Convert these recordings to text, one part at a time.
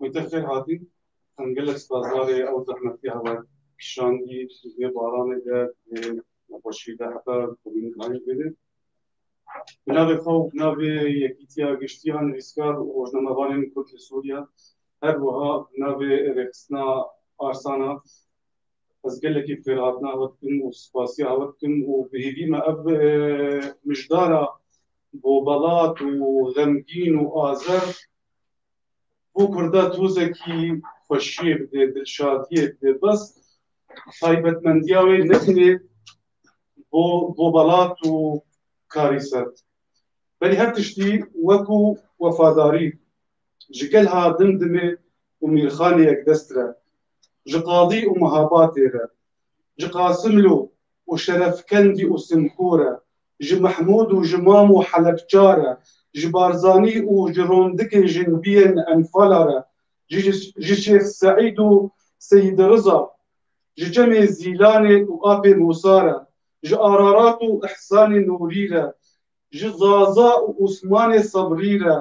Mütefir hatî gelek spazdarê ew zehmetiya we kişandî vê baranê de vê nexweşî de heta bûyî dayîn bêne. Bi navê xwe û bi navê Yekîtiya Giştiyan, Rîzgar û Rojnamevanên Kurd li Sûriye, her wiha bi navê Rêxistina Arsana ez gelekî xêrhatina we dikim û spasiya we dikim û bi hêvî me ev mijdara bobelat û xemgîn û azer bo Kurda tozekî xweşiyê bide, dilşadiyê bide. Bes taybetmendiya wê ne tenê bo bo belat û karî ser. Belî her tiştî wekû wefadarî ji gel ha Dimdimê û Mîrxanê yekdest re, ji qadî û mihabatê re, ji Qasimlo û Şerefkendî û Simko re, ji Mehmûd û ji Mam û Helepça re, ji Barzanî û ji rondikê jinbiyên Enfala re, ji ji Şêx Seîd û Seyîdiriza ji çemê Zîlanê û Apê Musa re, ji Ararat û Îhsanê Nûrî re, ji Zaza û Osmanê Sebrî re,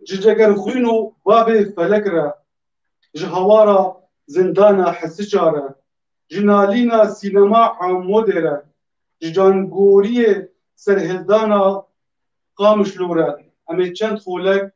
ji Cegerxwîn û Babê Felek re, ji hawara Zindana Hesiça re, ji nalîna Sînema Amûdê re, ji cangoriyê serhildana Qamişlo re em ê çend xolek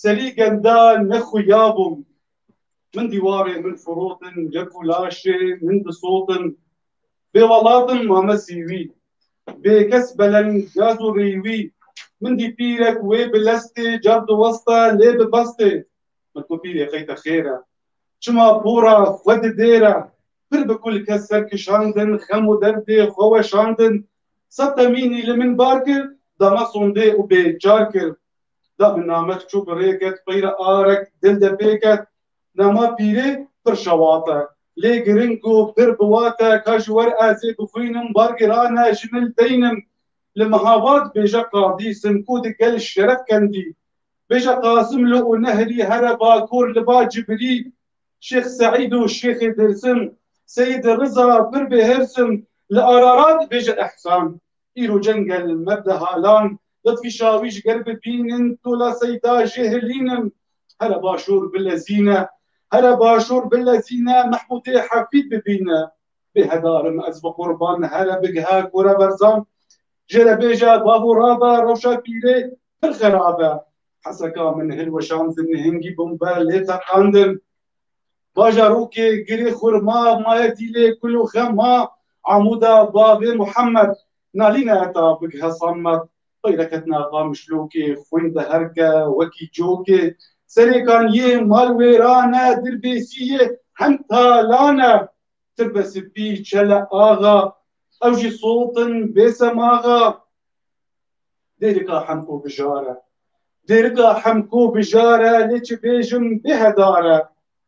Serî genda nexuyabûm min dîwarê min firotin yek û laşê min disotin bê welatim mame sîwî bê kes beleng gaz û rîwî min dî pîrek wê bi lestê cav diweste lê bi bestê min ku pîrê qeyte xêr e çima pora xwe didêre pir bi kul kes ser kişandin xem û derdê xwe weşandin Sed temînî li min bar kir, dama sondê û bê çar kir. Da min namek çû bi rê ket, qeyra arek dil de pê ket. Nema pîrê pir şewat e. Lê giring ku pir biwat e ka ji wer ez ê bixwînim bar giran e ji min li teynim. Li Mihabat bêje Qadî Simkû di gel Şerefkendî, bêje Qasimlu û Nehrî here Bakur li ba Cibrî, Şêx Seîd û Şêxê Dêrsim, Seîd Riza pir bê hirsim li Ararat dibêje Ehsan, îro cengel me bi halan, Litfî Şawîj ger bibînin tola Seîda jê hilînim, here başûr bilezîne, here başûr bilezîne Mehmûdê Hefîd bibîne, bê hedarim ez bi qurban here bigihe Kûreberzan, jê re bêje bavû rabe rewşa pîrê pir xerab e, Heseka min hilweşandin hingî bombe lê teqandin. Bajarokê Girê Xurma, Mayedîlê, Kul û Xema, Amûda, Bavê Muhemed, Nalîne heta Big Hesamed, xweyre ketina Qamişlokê, xwîn di herke wekî cokê, serêkan yê mal wêran e, dirbêsî yê hend talan e. Tirbe Sipî, Çele Axa, ew jî sotin bê semaxa. Dêrika hemko bijare Dêrika hemko bijare Lê çi bêjim bêhedare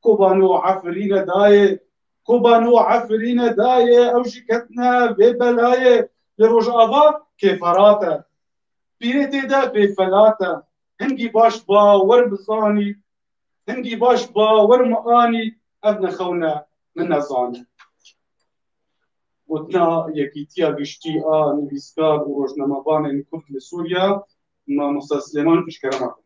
Kobano efirîne dayê Kobano efirîne dayê Ew jî ketine vê belayê Li Rojava kêferat e Pîrê tê de bêfelat e Hingî baş bawer bizanî Hingî baş bawer mianî Ev ne xewne min ne zanî. Gotina Yekîtiya Giştî a Nivîskar û Rojnamevanên Kurd li Sûriya Mamosta Silêman Pişkerema kir.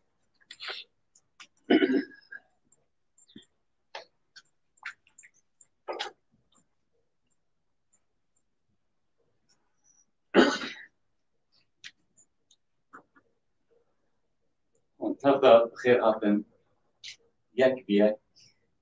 Her da bi xêr hatin yek bi yek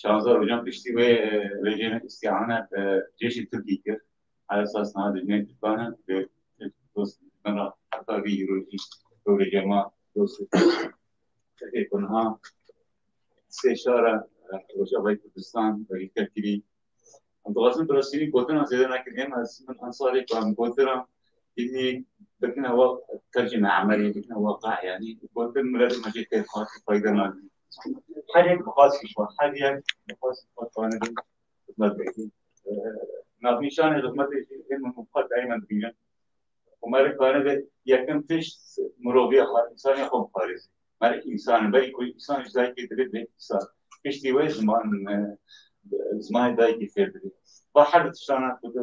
Şaza Ojan piştî wê rêjên îstîane bi cêşî Tirkî kir. Her esas niha dijminên Tirkan in bi Tirk dost bin re heta vî îrojî bi rêjê ma dost û Tirkê ku niha sê şara Rojavayê Kurdistan wekî tevkirî em dixwazin bi resmî gotina zêde nekin. Êm ez min ensalê ku em gotina îdî bikine waq tercîme emelî bikine waqe yanî gotin mileta me jê têr hat û fayde nadin. Her yek bi xasî xwe, her yek bi xasî xwe dixwane bin xizmetdekî. Navnîşanê xizmetê jî hê min û xwe tayîna dibînin. Û me rê dixwane be yekem tişt miroviya xwe, însanîya xwe bixarêzê. Me rê însan in. Belê ku însan ji dayikê dibê dibê însan. Piştî wê ziman zimanê dayikê fêr dibê. Ba her di tiştana ku di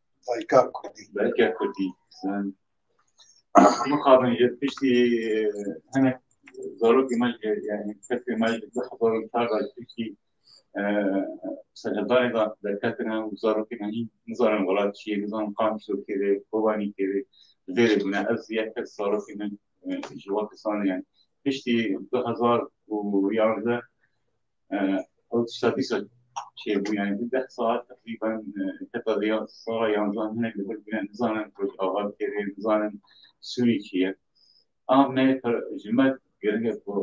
Dayka Kurdî. Dayka Kurdî. Mixabin ji piştî hinek zarokê me ji yani kesê me ji du hezar û çar da ji piştî serheddanê da derketine û zarokê me hîn nizanin welat çi ye, nizanin qam şo kêrê, kobanî kêrê, vêrê bûne. Ez yek kes zarokê min ji we kesan yani piştî du hezar û yanzdeh ew tişta dîsa çêbû yani di deh saet teqrîben heta di sala yanzan hinek li vir bûne nizanin Rojava kêrê nizanin Sûrî çi ye a me ji me giring e ku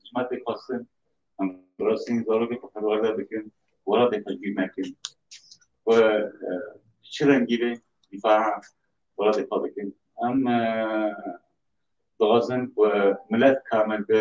ji me tê xwestin em rastîn zarokê xwe perwerde bikin welatê xwe cîr nekin we çi rengî bê dîfaa welatê xwe bikin em dixwazin ku milet kamil bi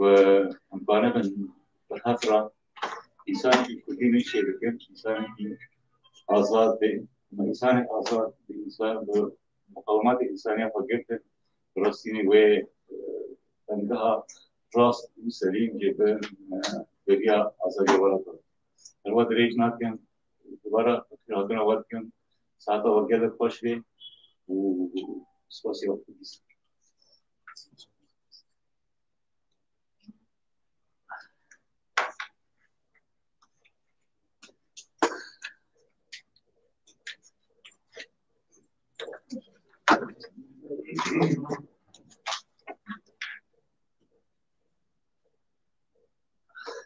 Ve hemkare min bi hev re însanekî kurdî min şêr bikin, însanekî azad bê. Hema însanek azad bi însan bi muqawematê însaniya xwe girtin. Bi rastînî wê demgeha rast û selîm jê bi beriya azadiya we re bibe. Her we dirêj nakin, dubare xêrhatina we dikin. Saeta we gelek xweş bê û spasî wextê bî.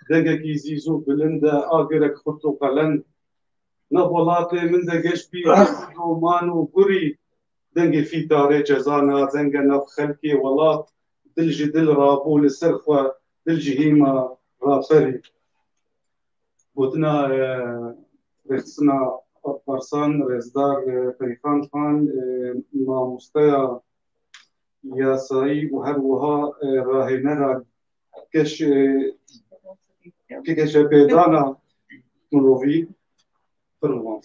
Degekî zîz û bilind e a gerek xurt û qelend. Navxwelatê min de geş bî man û gurî Dengê fîtarê cezana zenge nav xelkê welat dil ji dil rabû li ser xwe dil ji hêma raperî. Gotina rêxistina Alparslan Rezdar Peyxan Xan mamosteya yasayî û her wiha rahênera geş geşepêdana mirovî pir rûmand.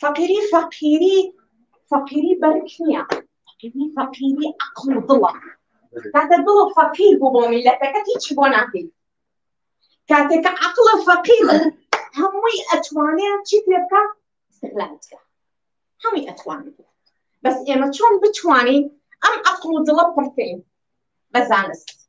Feqîrî feqîrî feqîrî berk niye. Feqîrî feqîrî eql û dil e. Kate dil û feqîr bû bo mîleteke hîç bo nakî. Kate ke eql û feqîr bû hemûî etwanê çî tê bike îstiqlal dike. Hemûî etwanê. Bes ême çon bitwanîn em eql û dila pirteyîn be zanist.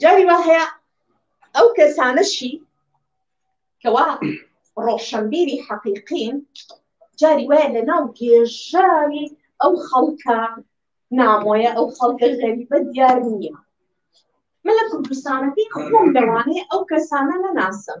Carî wa heye ew kesane şî ke wa roşenbîrî heqîqîn carî we li nav gêjarî ew xelka namoye ew xelka xerîbe diyar niye. Min li Kurdistanekî xwend dewanê ew kesane nenasim.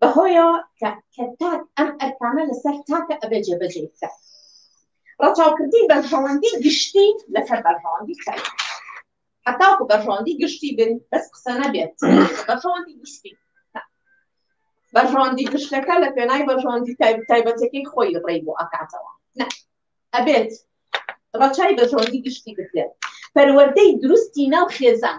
Bi hoya ke ke tak em erkane li ser take ebe cebecê bike. Reçavkirtî berjewendî giştî li ser berjewendî ker e. Heta ku berjewendî giştî bin bes qise nebe berjewendî giştî ne. Berjewendî gişteke li pênayê berjewendî taybetekî xwe yî rê bo akate wan. Ne. Ebêt reçayê berjewendî giştî bike. Perwerdeyî dirust tîna xêzen.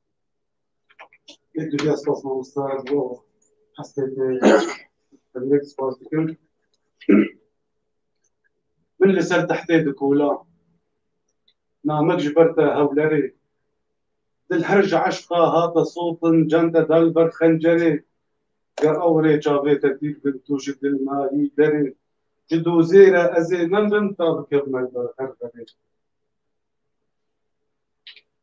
Pek güzel spas mamosta bu hasreti direkt spas dikim. Min li ser tehtê dikola namek ji ber te hewlerê dil her ji eşqa hate sotin can te da li ber xencerê ger ew rê çavê te dîr bin tu ji dil nayî derê ji dozê re ez ê nemirim ta bikevime li ber her verê.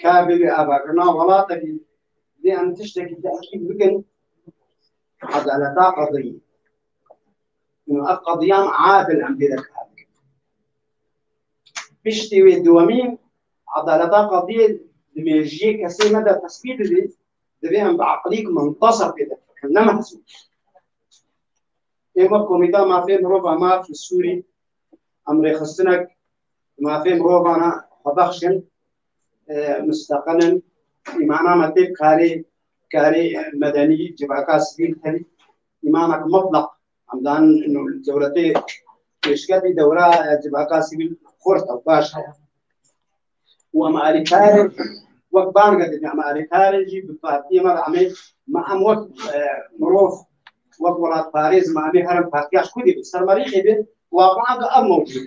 Ka bibê ava ku nav welatekî dê em tiştekî tehkîk bikin edaleta qediyî. Û ev qediyan adil em pê dikar bikin. Piştî wê dewemîn edaleta qediyê di mêjiyê kesê me de tesbît bibî, divê em bi eqilîk mintasib pê de bikin, ne mehsûb. Ê wek Komîta Mafê Mirovan Maf li Sûrî em rêxistinek Mafê mirovana xwe bexşin, mustaqil in, îmana me tê bi karê karê medenî civaka sivîl tevî îmanek mutlaq hemdan dewletê pêşkevî dewra civaka sivîl xurt ew baş heye û em alîkarê wek bange didin em alîkarê jî bi partiyê me amê me em wek mirov wek welatparêz me amê herim partiya xwedî bi sermerîxê bi waqa bi ev mewcûd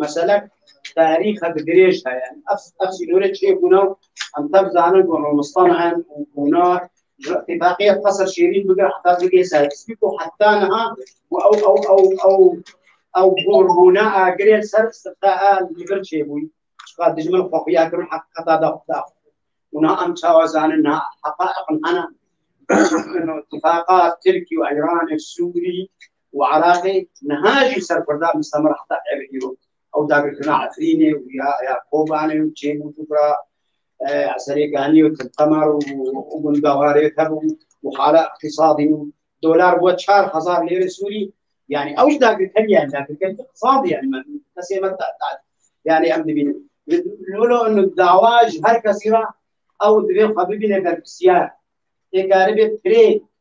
Meselek tarîxe bi dirêj heye. Ev sînorê çê bûna û em tev zanin ku Romistan e û bûna tifaqiyek qeser şêrîn bike heta bike serpî ku heta niha ku ew ew ew ew ew gorbûna a girê ser sirta a li vir çê bûyî. Çiqa dijmin xwexiya kir û heqîqeta da xwe da. Û niha em çawa zanin niha heqaîqin hene. Tifaqa Tirkî û Îranê Sûrî û Iraqê niha jî ser Kurdan mistemir heta evê îro. Ew dagirkirina Efrînê û ya ya Kobanê û Çêm û Dubra Eserê Ganî û Tilqemar û gunda wan rê hebû û hala îqtîsadî û dolar bûye çar hezar lêrê Sûrî yanî ew jî dagirkerî yanî dagirkerî îqtîsadî yanî me kesê me yanî em dibînin. Wilo dawa ji her kesî re ew divê xwe bibîne berpirsiyar. Tê karibê pirê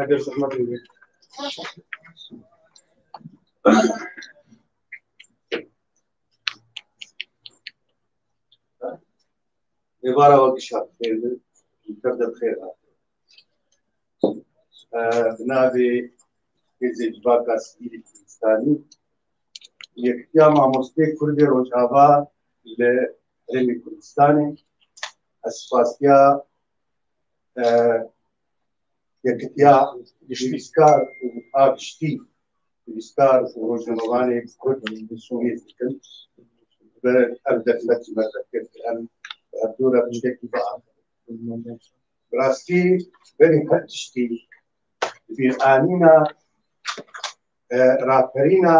Eger zehmet bibê. Êvara wekî şat xêr bi. Tev de bi xêr hat. Bi navê Hêzê Civaka Sivîlî Kurdistanî Yekîtiya Mamostê Kurdê Rojava li Herêmê Kurdistanê ez spasiya yekitiya nivîskar û a giştî nivîskar û rojnamevanê Kurd li Sûriyê dikin ve ev derfet ji me derket ki em bi hevdû re tiştekî bihat. Bi rastî berî her tiştî di bîr anîna raperîna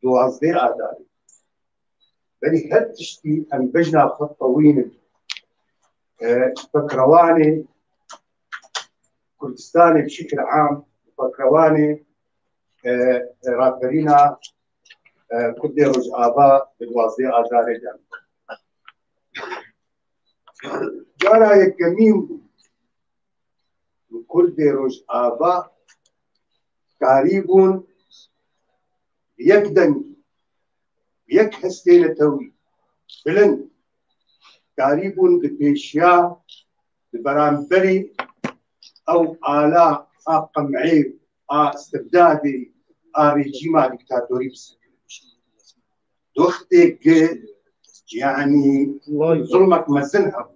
duwazdeh adarî. Berî her tiştî em bejna xwe qewînin. Pakrewanê Kurdistanê bi şekil am pakrewanê raperîna Kurdê Rojava di duwazdê Adarê de. Cara yekemîn Kurdê Rojava karî bûn yek dengî yek hestê netewî bilind darîbûn di pêşiya di beramberî ew ala a qemeyê a stibdadê a rejîma dîktatorî doxtê ki yanî zulmek mezin hebû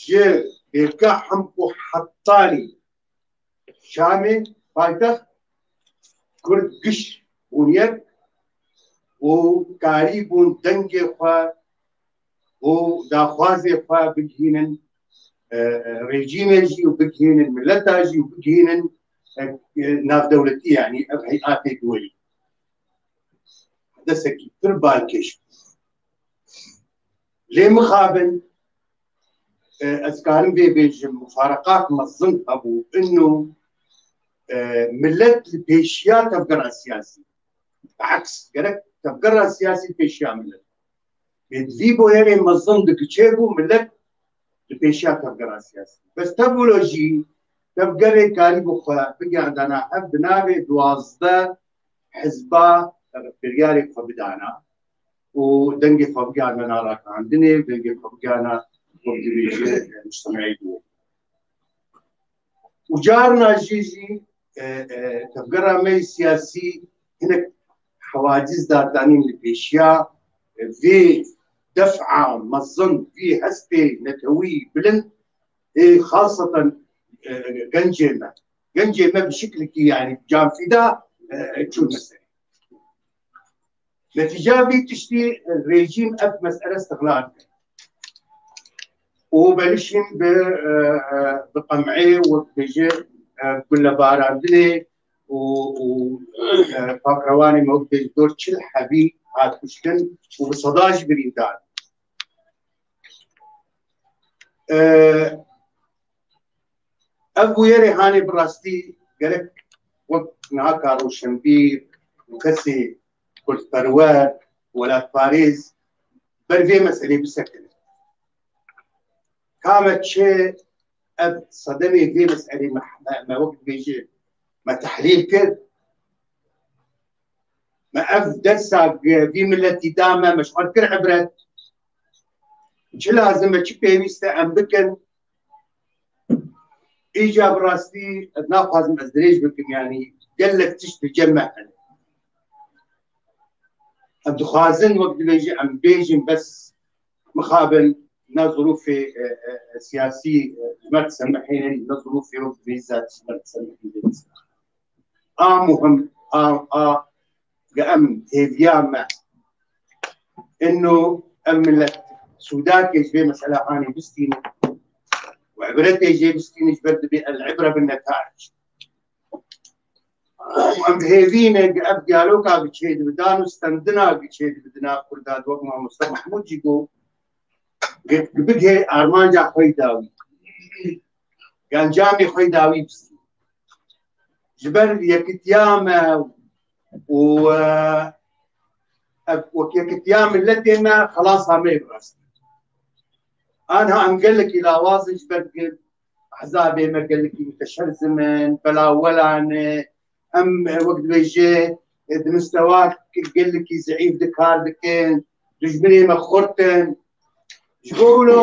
ji Hêvgeh Hemko Hetanî Şamê paytext Kurd giş bûn yek û karî bûn dengê xwe û daxwazê xwe bigihînin rejîmê jî û bigihînin mileta jî û bigihînin navdewletî yanî ev heyatê duweyî desekî pir balkêş bû. Lê mixabin ez karim vê bêjim mufareqat mezin hebû ino millet li pêşiya tevgera siyasî aks gerek tevgera siyasî pêşiya millet lê di vî boyerê mezin digiçe bû millet li pêşiya tevgera siyasî bes tevlo jî tevgerê karî bi xwe bigerdana hev di navê duwazdeh hizba biryarê xwe bidana û dengê xwe bigerîne naragihandinê û dengê xwe bigerîne xwedibêje mujtemeyî dûr. Û carina jê jî tevgera me yê siyasî hinek hewacîz dadanîn li pêşiya vê defa mezin vê hestê netewî bilind ê xaseten gencê me. Gencê me bi şiklekî yanî canfîda çûne serê. Netîca vî tiştî rejîm ev mesele istiqlal kir. û berişîn bi bi qemeyê wek bêje gulebarandinê û û pakrewanê me wek bêj dor çil hebî hat kuştin û bi seda jî birîndar. Ev bûyerê hanê bi rastî gerek wek niha ka rûşenbîr û kesê kurdperwer welatparêz ber vê meselê bisekine. Ka me çi ev sedemê vê meselê me me wek dibêje me tehlîl kir me ev dersa vî miletî da me me ji xwe kir ibret çi lazim e çi pêwîst e em bikin Îca bi rastî ez naxwazim ez dirêj bikim yanî gelek tişt di cem me hene. Em dixwazin wek dibêjin em bêjin bes mixabin na zirûfê e, e, e, siyasî ji me disemehênin na zirûfê wek dibêjin zat ji me disemehînin. a muhim a a ge em hêviya me ino em millet sûdakê ji vê mesela anê bistînin û ibretê jê bistînin ji ber dibê el ibra bin netaic em bi hêvîne ge ev diyaloga bi çê dibidan û stendina bi çê dibidina kurda wek mamosta mahmûd jî got bigê armanca xwe dawî Gencamê xwe dawî bistî. Ji ber yekitiya me û yekitiya milletê me xelasa me rastî. Anha em gelekî lawazin ji ber hezabê me gelekî miteşerzim in, belawelan e, em wek dibêje di mistewa gelekî zeîf dikar dikin, dijminê me xurt in. Ji bo wilo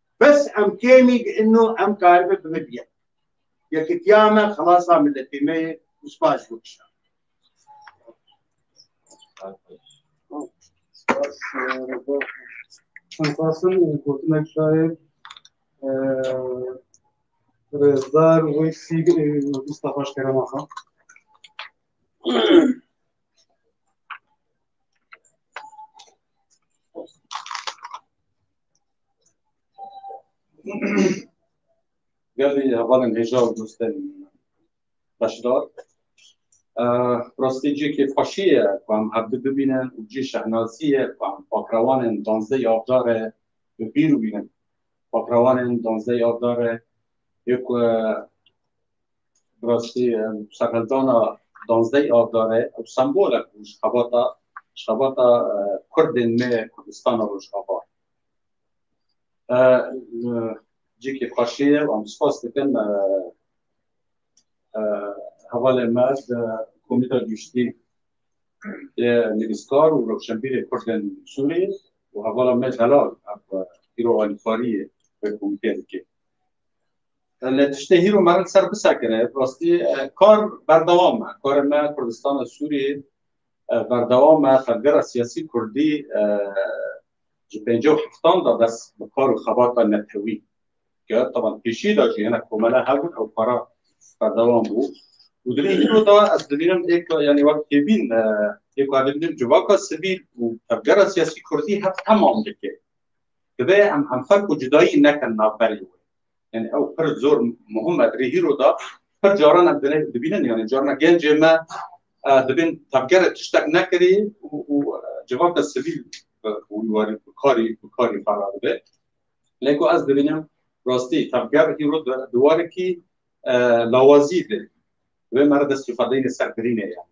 Bes em kêmî di inno em karibe bi me biyem. Yekitiya me xelasa miletê me ye û spas ji bo kişan. Em xwestin gotinek şair Rêzdar Wêsî Mustafa ji Kerema Xan. Gelê hevalên hêja û dostên beşdar rastî cihekê xweşî ye ku em hevdu bibînin û cihê şehnazî ye ku em pakrawanên danzdehê avda re bi bîr bînin. Pakrawanên danzdehê avda re yê ku Bi rastî serhildana danzdeh Avdar e ew sembolek bû ji xebata ji xebata Kurdên me ya Kurdistana Rojava. Cîkê xweşî ye û em spas dikin hevalê me di Komîta Giştî yê Nivîskar û Rewşenbîrê Kurdên Sûriyê û hevala me Zelal ev îro alîkariyê vê komîteyê dike. Lê tiştê hîr û meriv ser bisekine rastî kar berdewam e. Karê me Kurdistana Sûriyê berdewam e. Xelgera siyasî Kurdî ji pêncî û heftan de bes bi kar û xebata netewî kir. Taban pêşî de jî hinek komele hebûn ew kara berdewam bû. Û di vî îro de ez dibînim êk yanî wek têbîn êk ku ez dibînim civaka sivîl û tevgera siyasî Kurdî hev temam dike. Dibe em hemferk û cudayî nekin navberê wê. Yani ew pir zor muhim e. Rê hîro da pir caran em dilê dibînin yani carna gencê me dibên tevgerê tiştek nekirî û civaka sivîl wî warî bikarî bikarî xwe radibe. Lê ku ez dibînim rastî tevger hîro di warekî lawazî de wê me re destî xwe deyne ser birînê ye.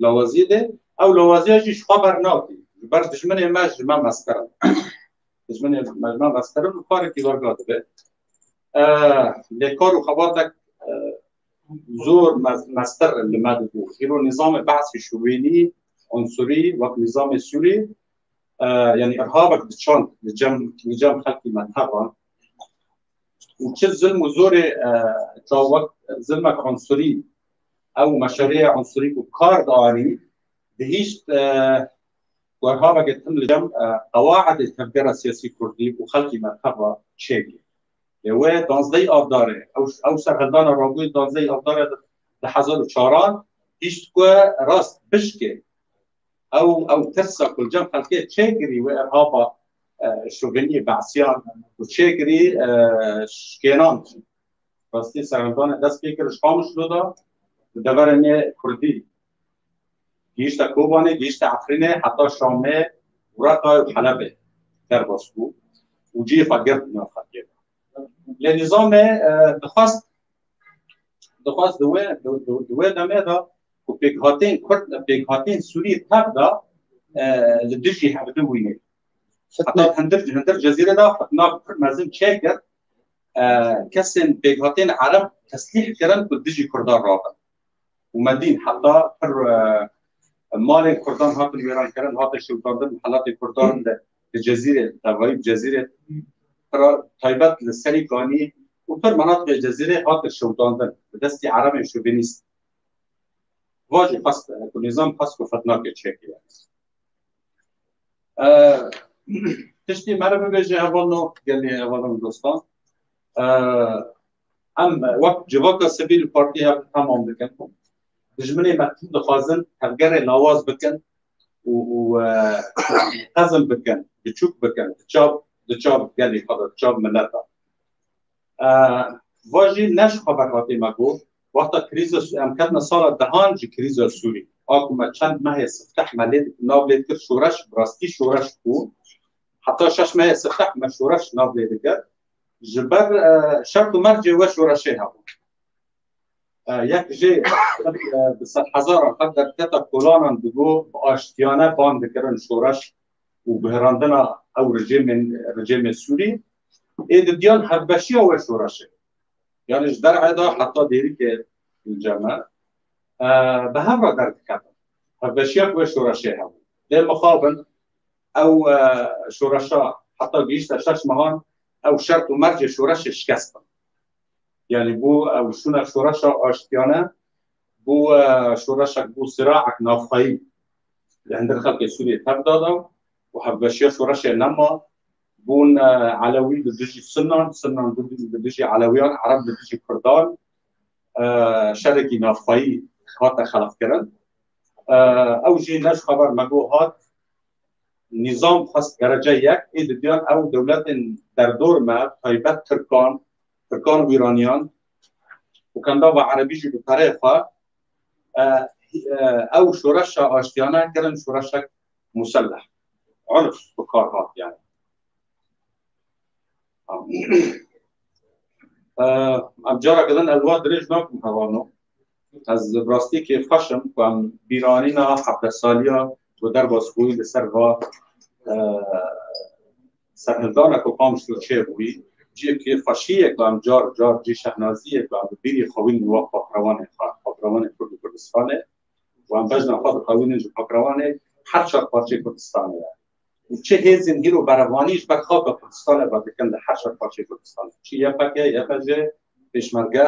Lawazî de ew lawaziya jî ji xwe bernakî. Ji ber dijminê me ji me meztir in. dijminê mejna rastkirin û karekî wer ga dibe. Lê kar û xebatek zor meztir li me dibû. Îro nîzamê behsî şûvînî, unsurî wek nîzamê Sûrî yanî irhabek diçand li cem li cem xelkî me tevan. Û çi zilm û zorê ça wek zilmek unsurî ew meşerêya unsurî ku kar dianî dihîşt Got, Baveke tim li cem qewaetê tevgera siyasî kurdî û xelkî me tev a çêbû. Lê wê danzdeyî avdarê ew serhildana rabûyê danzdeyî avdarê di hezar û çaran hîşt ku rast bişkê. Ew ew tirsa ku li cem xelkê çêkirî wê ev hava şovenîyê be'siyan ku çêkirî şkênan jî. Rastî serhildanê dest pê kir ji Qamişlo de bi deverê nê kurdî Gihîşte Kobanê, gihîşte Efrînê heta Şamê û Reqa û Helebê derbas bû û cihê xwe girt bi nav xelkê de. Lê nîzamê dixwest dixwest di wê di wê demê de ku pêkhatên Kurd pêkhatên Sûrî tev de li dijî hev di wînê. Heta hindir hindir cezîrê de fitna pir mezin çêkir. Kesên pêkhatên Ereb teslîh kirin ku dijî Kurdan rabin. û Medîn heta pir malên Kurdan hatin wêrankirin, hate şewitandin helatê Kurdan de di Cezîrê tevayî Cezîrê pira taybet li serî ganî û pir menatiqê Cezîrê hatin şewitandin bi destî erebên şovenîst. Va jî xwest ku nîzam xwest ku fitnakê çêkê ye. Tiştî me re bibêje hevalno gelê hevalno dostan. Em wek civaka sivî li partiyê hev tamam dikin. Dijminê me tim dixwazin tevgerê lawaz bikin û xezm bikin, biçûk bikin di çav di çav gelê xwe de, di çav milet de. Va jî ne ji xwe berhatê me got, wexta krîza em ketine sala dehan ji krîza Sûrî. A ku me çend mehê sifteh me lê nav lê dikir şoreş, bi rastî şoreş bû. Heta şeş mehê sifteh me şoreş nav lê dikir. ji ber şert û mercê we şoreşê hebû. Yek jê bi sed hezaran qet derketa kolanan digo bi aştiyane bang dikirin şoreş û guherandina ew rejêmên rejêmê Sûrî ê didiyan hevbeşiya we şoreşê. Yani ji derê de heta dêrikê ceme bi hev re derdikevin. Hevbeşiya we şoreşê hebû. Dê mixabin Ew şoreşa heta gihîşta şeş mehan ew şert û mercê şoreşê şikest bin. Yanî bû ew şûna şoreşa aştiyane bû şoreşek bû siraek navxweyî li hindir xelkê Sûriyê tevda da û hevbeşiya şoreşê nema bûn Elewî li dijî Sinan, Sinan li dijî Elewiyan, Ereb li dijî Kurdan şerekî navxweyî hate xelqkirin. Ew jî ne ji xeber me got nîzam xwest dereca yek ê didiyan ew dewletên derdor me taybet tirkan tirkan û îraniyan û kendava erebî jî bi pereyê xwe ew şoreşa aştiyane kirin şoreşek muselleh urf bi kar hat yani em cara kirin elwa dirêj nakim hevano Ez bi rastî kêfxweş im ku em bîranîna hevdeh saliya ku derbas bûyî li ser va serhildana ku qam ji to çêbûyî. Cî kêfxweşiyê ku em car car cî şehnaziyê ku em bi bîrî xewînin li wexta pirewanên xwe, pirewanên Kurd û Kurdistanê û em bejna xwe dixewînin ji pirewanê her çar parçeyê Kurdistanê re û çi hêzên hîr û berevanî ji ber xaka Kurdistanê ve dikin li her çar parçeyê Kurdistanê, çi YPG, YPJ, Pêşmerge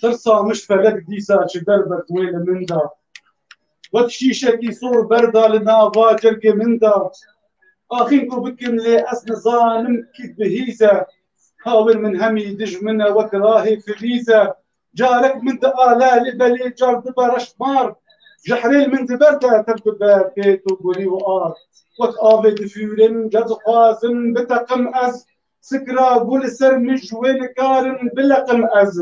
Tırsamış felek dîsa çi derbet wê li min da. Wek şîşekî sor berda li nava cergê min da. Axîn ku bikim lê ez nizanim kî bihîze. Kawên min hemî dijmin e wek rahê filîze. Carek min di ale lê belê car dibe reş mar Ji herêl min di ber de tev dibe pêt û gurî û ar Wek avê di fûrin ca dixwazin biteqim ez Sikira gû li ser min ji wê nikarin bileqim ez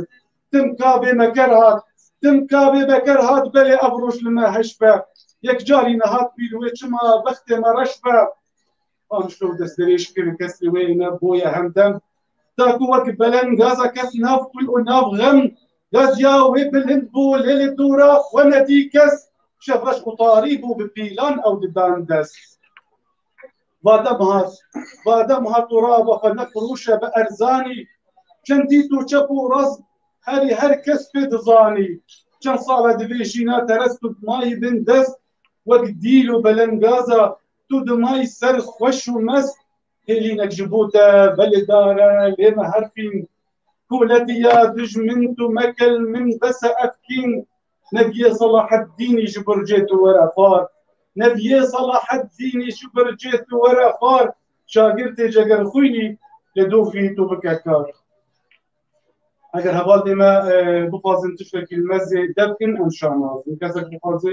Tim ka bê meker hat tim ka bê beker hat Belê ev roj li me heş be Yek carî nehat pîl wê çima bextê me reş be An şlo destnirêj kirin kesrê wê ne boye hemdem. Da ku wek belen gaza kes nav xwî û nav xem gaziya wê bilind bû lê li dûra xwe nedî kes şevreş qutarî bû bi pîlan ew didan dest. Vade mihat, vade mihat tu rava xwe ne firûşe bi erzanî çendî tu çep û rast herî her kes pê dizanî. Çend sale divê jîna terest û mayî bin dest wek dîl û belengaza Tu dimay ser xweş û mest hêlînek ji bo te velêdar e lê me her fîn koletî ya dij min tu mekel min bese ev kîn Nebiye Salaheddînî ji bircê tu were xwar Nebiye Salaheddînî ji bircê tu were xwar şagirtê ceger xwînî lê dofî tu bike kar Eger hevalê me bixwazin tiştekî li me zêde bikin em şanazin kesek bixwazê